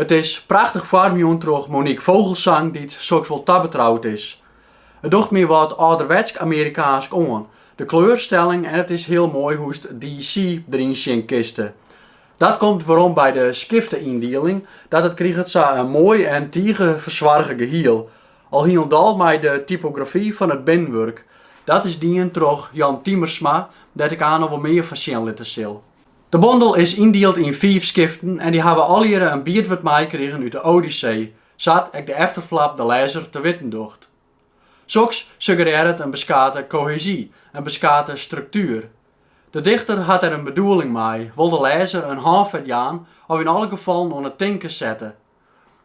It is prachtich foarmjûn troch Monique Vogelsang dy't soks wol tabetroud is. It docht my wat âlderwetsk Amerikaansk oan, de kleurstelling en it is hiel moai hoe'tst de see deryn sjen kinste. Dat komt werom by de skifteyndieling, dat it kriget sa in moai en tige fersoarge gehiel. Al hielendal mei de typografy fan it binnenwurk. Dat is dien troch Jan Tiemersma, dêr't ik aanst noch wol mear fan sjen litte sil. De bondel is yndield yn fiif skiften en dy hawwe allegearre in biedwurd meikrigen út de Odyssee, sa't ek de efterflap de lêzer te witten docht. Soks suggerearret in beskate kohesy, in beskate struktuer. De dichter hat der in bedoeling mei, wol de lêzer in hânfet jaan of yn alle gefallen oan it tinken sette.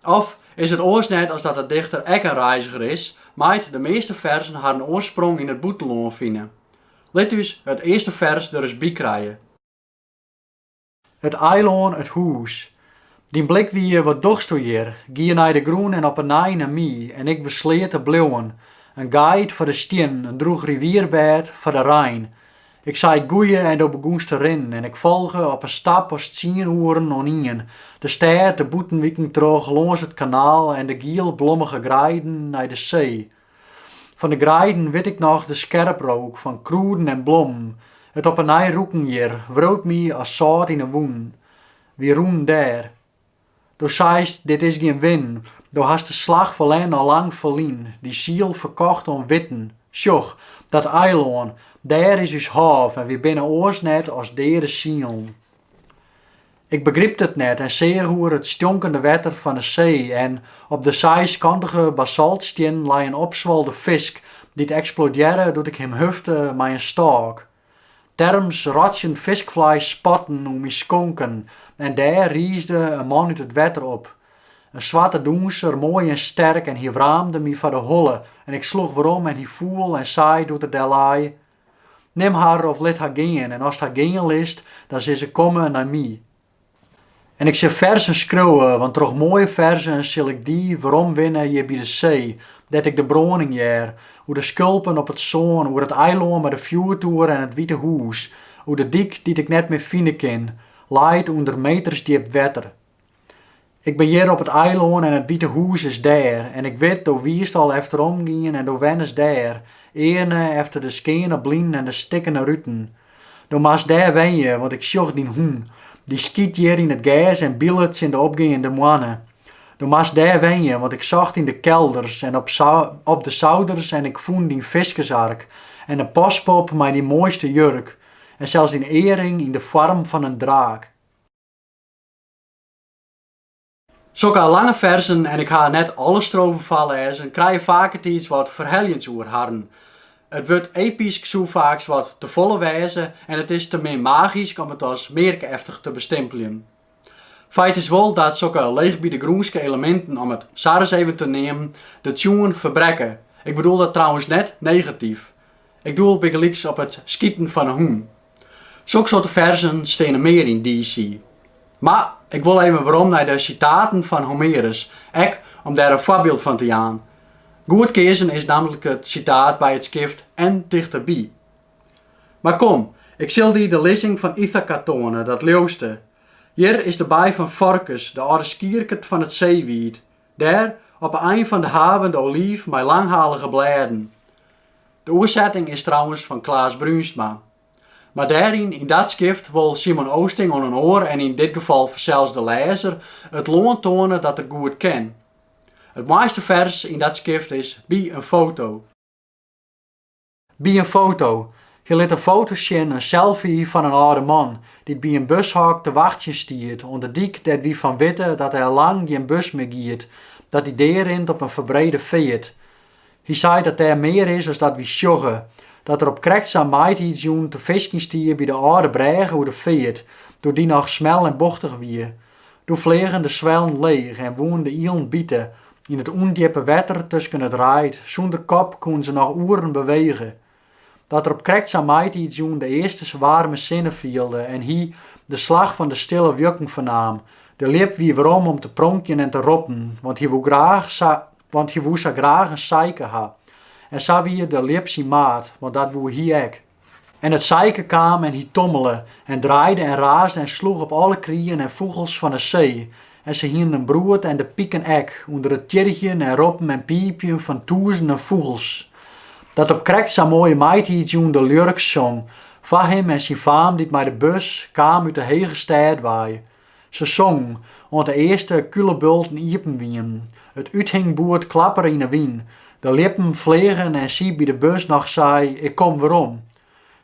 Of is it oars net as dat de dichter ek in reiziger is, mei't de measte ferzen harren oarsprong yn it bûtenlân fine? Lit ús it earste fers der ris by krije. It eilân, it hûs. Dyn blik wie, wat dochsto hjir? Gie nei de grûn en op 'e nij nei my, en ik besleat te bliuwen. In guide foar de stiennen, in drûch rivierbêd foar de rein. Ik sei it goeie en do begûnst te rinnen en ik folge op in stap as tsien oeren oan ien, de stêd, de bûtenwiken troch, lâns it kanaal en de gielblommige greiden nei de see. Fan de greiden wit ik noch de skerprook fan krûden en blommen, it op 'e nij rûken hjir wriuwt my as sâlt yn 'e wûnen. Wy rûnen dêr. Do seist, Dit is gjin winnen, do hast de slach ferlern al lang ferlyn, dyn siel ferkocht oan witten. Sjoch, dat eilân, dêr is ús hôf en wy binne oars net as deade sielen. Ik begrypte it net en seach oer it stjonkende wetter fan 'e see en op de seiskantige basaltstiennen lei in opswolde fisk dy't eksplodearre doe't ik him hufte mei in stôk. Terms rotsjend fiskfleis spatten om myn skonken en dêr riisde in man út it wetter op. In swarte dûnser, moai en sterk en hy wraamde my foar de holle en ik sloech werom en hy foel en sei doe't er dêr lei, Nim har of lit har gean en ast har gean litst, dan sil se komme nei my. En ik sil ferzen skriuwe, want troch moaie ferzen sil ik dy weromwinne hjir by de see, dêr't ik de brâning hear, oer de skulpen op it sân, oer it eilân mei de fjoertoer en it wite hûs, oer de dyk dy't ik net mear fine kin, leit ûnder metersdjip wetter. Ik bin hjir op it eilân en it wite hûs is dêr. En ik wit, do wiest al efterom gien en do wennest dêr, earne efter de skeane blinen en de stikkene ruten. Do moatst dêr wenje, want ik sjoch dyn hûn, dy skyt hjir yn it gers en bylet tsjin de opgeande moanne. Do moatst dêr wenje, want ik socht yn de kelders en op de souders en ik fûn dyn fiskersark en in paspop mei dyn moaiste jurk en sels dyn earring yn de foarm fan in draak. Sokke lange ferzen, en ik ha net alle strofen foarlêzen, krije faketiids wat ferheljends oer harren. It wurd epysk soe faaks wat tefolle wêze en it is te min magysk om it as mearkeftich te bestimpeljen. Feit is wol dat sokke leechbydegrûnske eleminten, om it sa ris even te neamen, de tsjoen ferbrekke. Ik bedoel dat trouwens net negatyf. Ik doel bygelyks op it skiten fan 'e hûn. Sokke soarte ferzen steane mear yn DC. Mar ik wol even werom nei de sitaten fan Homerus, ek om dêr in foarbyld fan te jaan. Goed keazen is nammentlik it sitaat by it skift en tichterby. Mar kom, ik sil dy de lizzing fan Ithaka toane, dat leauwste. Hjir is de baai fan Forkys, de âlde skierket fan it seewiid, Dêr, op 'e ein fan de haven, de oliif mei langhalige blêden. De oersetting is trouwens fan Klaas Bruinsma. Mar dêryn, yn dat skift, wol Simon Oosting oan in oar en yn dit gefal fansels de lêzer it lân toane dat er goed ken. It moaiste fers yn dat skift is By in foto. By in foto. Hy lit in foto sjen, in selfie, fan in âlde man dy't by in bushok te wachtsjen stiet oan de dyk dêr't wy fan witte dat der lang gjin bus mear giet, dat dy dearint op in ferbrede feart. Hy seit dat dêr mear is as dat wy sjogge, dat er op krekt sa'n maitiidsjûn te fiskjen stie by de âlde brêge oer de feart, doe't dy noch smel en bochtich wie. Doe fleagen de swellen leech en woenen de ielen bite. Yn it ûndjippe wetter tusken it reid, sûnder kop, koene se noch oeren bewege. Dat er op krekt sa'n maitiidsjûn de earste waarme sinne fielde en hy de slach fan de stille wjukken fernaam. De ljip wie werom om te pronkjen en te roppen, want hy woe sa graach in sijke ha. En sa wie de ljip syn maat, want dat woe hy ek. En it sijke kaam en hy tommele en draaide en raasde en sloech op alle krieën en fûgels fan 'e see, en se hienen in broed en de piken ek, ûnder it tjirgjen en roppen en piepjen fan tûzenen fûgels, dat op krekt sa'n moaie maitiidsjûn de ljurk song foar him en syn faam dy't mei de bus kaam út 'e hege stêd wei. Se songen, oant de earste kûlebulten iepen wienen, it úthingboerd klappere yn 'e wyn, de ljippen fleagen en sy by de bus noch sei, Ik kom werom.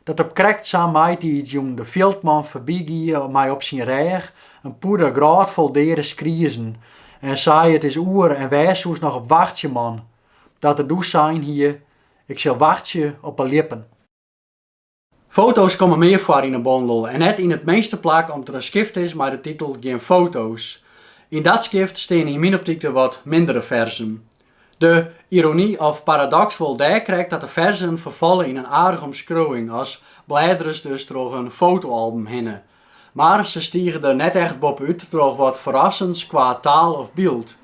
Dat op krekt sa'n maitiidsjûn de fjildman foarbygie mei op syn rêch in pûde grôtfol deade skrizen en sei, It is oer en wêr soest noch op wachtsje, man? Dat er doe sein hie, Ik sil wachtsje op 'e ljippen. Foto's komme mear foar yn 'e bondel en net yn it minste plak om't der in skift is mei de titel Gjin foto's. Yn dat skift steane yn myn optyk de wat mindere ferzen. De irony of paradoks wol dêr krekt dat de ferzen ferfalle yn in aardige omskriuwing, as blêderest dus troch in fotoalbum hinne. Mar se stige der net echt bopút troch wat ferrassends kwa taal of byld.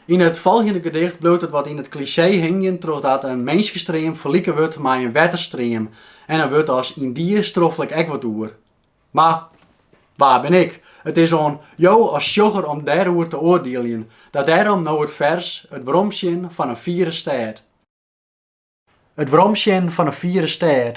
Yn it folgjende gedicht bliuwt it wat yn it klisee hingjen trochdat in minskestream ferlike wurdt mei in wetterstream en in wurd as yndie stroffelje ik ek wat oer. Mar wa bin ik? It is oan jo as sjogger om dêroer te oardieljen. Dat dêrom no it fers It weromsjen fan in fiere stêd. It weromsjen fan in fiere stêd.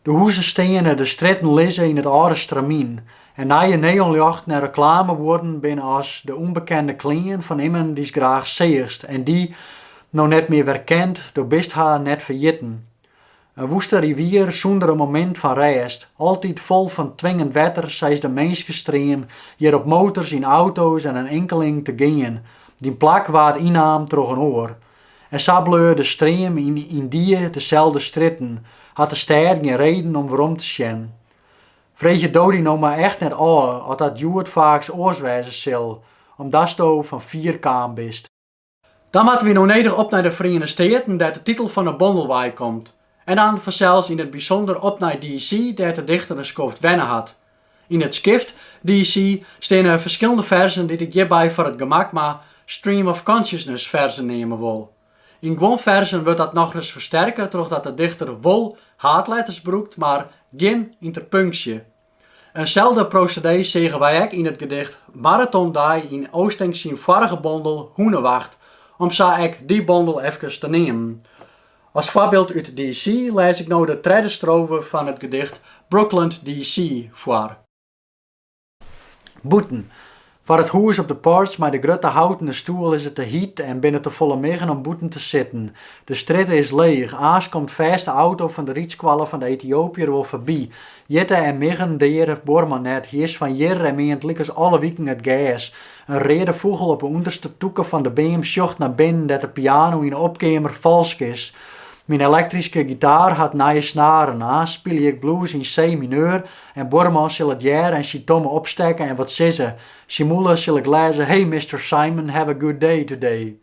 De huzen steane, de strjitten lizze yn it âlde stramyn en nije neonljochten en reklamebuorden binne as de ûnbekende klean fan immen dy'st graach seachst en dy, no net mear werkend, do bist har net ferjitten. In woeste rivier sûnder in momint fan rêst, altyd fol fan twingend wetter sa is de minskestream hjir op motors, yn auto's en in inkeling te gean, dyn plak waard ynnaam troch in oar. En sa bleau de stream yn yndie deselde strjitten, hat de stêd gjin reden om werom te sjen. Freegje do dy no mar echt net ôf oft dat hjoed faaks oars wêze sil, omdatsto fan fier kaam bist. Dan moatte wy no nedich op nei de Feriene Steaten dêr't de titel fan 'e bondel wei komt, en dan fansels yn it bysûnder op nei DC dêr't de dichter in skoft wenne hat, Yn it skift DC steane ferskillende ferzen dy't ik hjirby foar it gemak mar Stream of Consciousness ferzen neame wol. Yn guon ferzen wurdt dat nochris fersterke trochdat de dichter wol haadletters brûkt mar gjin ynterpunksje. Inselde prosedee seagen wy ek yn it gedicht Marathon Dei yn Oosting syn foarige bondel Hûnewacht, om sa ek dy bondel efkes te neamen. As foarbyld út DC lês ik no de tredde strofe fan it gedicht Brookland DC foar. Bûten. Foar it hûs op de porch mei de grutte houtene stoel is it te hiet en binne te folle miggen om bûten te sitten. De strjitte is leech, aanst komt fêst de auto fan de rydskoalle fan de Etiopiër wol foarby. Hjitte en miggen deare buorman net, hy is fan hjir en meant lykas alle wiken it gers. In reade fûgel op 'e ûnderste tûke fan de beam sjocht nei binnen dêr't de piano yn 'e opkeamer falsk is. Myn elektryske gitaar hat nije snaren, aanst spylje ik blues yn C-mineur en buorman sil it hearre en syn tomme opstekke en wat sizze. Syn mûle sil ik lêze, Hey Mister Simon, have a good day today.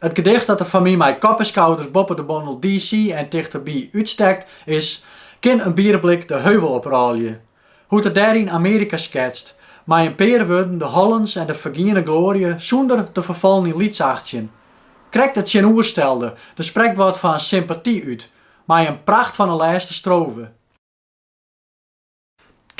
It gedicht dat der foar my mei kop en skouders boppe de bondel DC en tichterby útstekt, is Kin in bierblik de heuvel oprôlje? Hoe't er dêryn Amearika sketst, mei in pear wurden de hollens en de fergiene gloarje sûnder te ferfallen yn lytsachtsjen. Krekt it tsjinoerstelde, der sprekt wat fan sympaty út, mei in pracht fan in lêste strofe.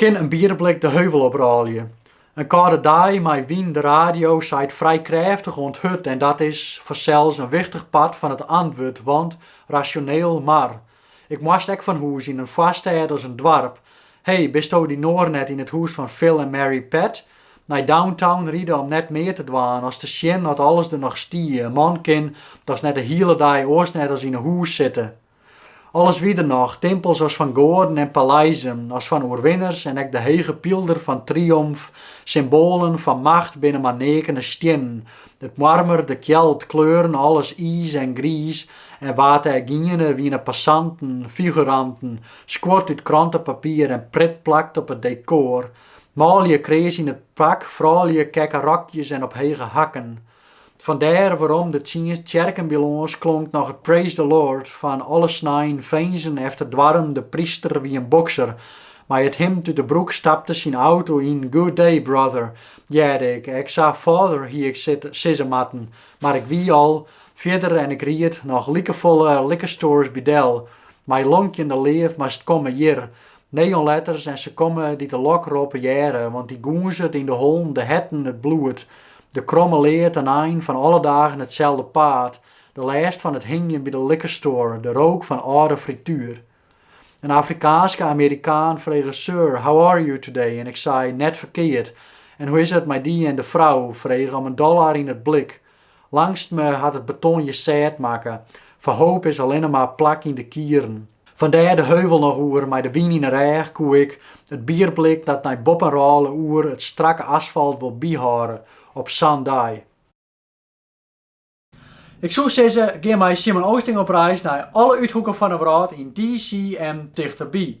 Kin in bierblik de heuvel op rôlje? In kâlde dei mei wyn de radio seit frij krêftich oant hurd en dat is fansels in wichtich part fan it antwurd, want rasjoneel. Mar ik moast ek fan hûs yn in foarstêd as in doarp. Hey, bisto dy Noar net yn it hûs fan Phil en Mary Pat? Nei downtown ride om net mear te dwaan, as te sjen oft alles der noch stie. In man kin dochs net de hiele dei oars net as yn 'e hûs sitte. Alles wie der noch, timpels as fan goaden en paleizen as fan oerwinners en ek de hege pylder fan triomf. Symboalen fan macht binne mar neakene stiennen. It moarmer, de kjeld, kleuren, alles iis en griis en wa't dêr giene, wiene passanten, figuranten, skuord út krantepapier en Pritt-plakt op it dekôr. Manlju kreas yn it pak, froulju kekke rokjes en op hege hakken. Fan dêr werom de tsjerken bylâns klonk noch it Praise the Lord fan alle snein finzen efter doarren, de pryster wie in bokser. Mei it himd út de broek stapte syn auto yn, Good day, brother, hearde ik. Ek sa Father hie ik sizze moatten, mar ik wie al fierder en ik ried noch likefolle liquor stores bydel. Mei lonkjende leaf moatst komme hjir, Neonletters en se komme dy't de lokrop hearre, want dy gûnzet yn de hollen, de herten it bloed. De kromme leart in ein fan alle dagen itselde paad, de lêst fan it hingjen by de liquor store, de rook fan âlde frituer. In Afrikaanske Amerikaan frege Sir, how are you today? en ik sei, net ferkeard, en hoe is it mei dy? En de frou frege om in dollar yn it blik. Langstme hat it beton je sêd makke, foar hoop is allinne mar plak yn de kieren. Fan dêr de heuvel noch oer mei de wyn yn 'e rêch koe ik it bierblik dat nei boppen rôle oer it strakke asfalt wol byhâlde op sa'n dei. Ik soe sizze, gean mei Simon Oosting op reis nei alle úthoeken fan 'e wrâld yn DC en tichterby.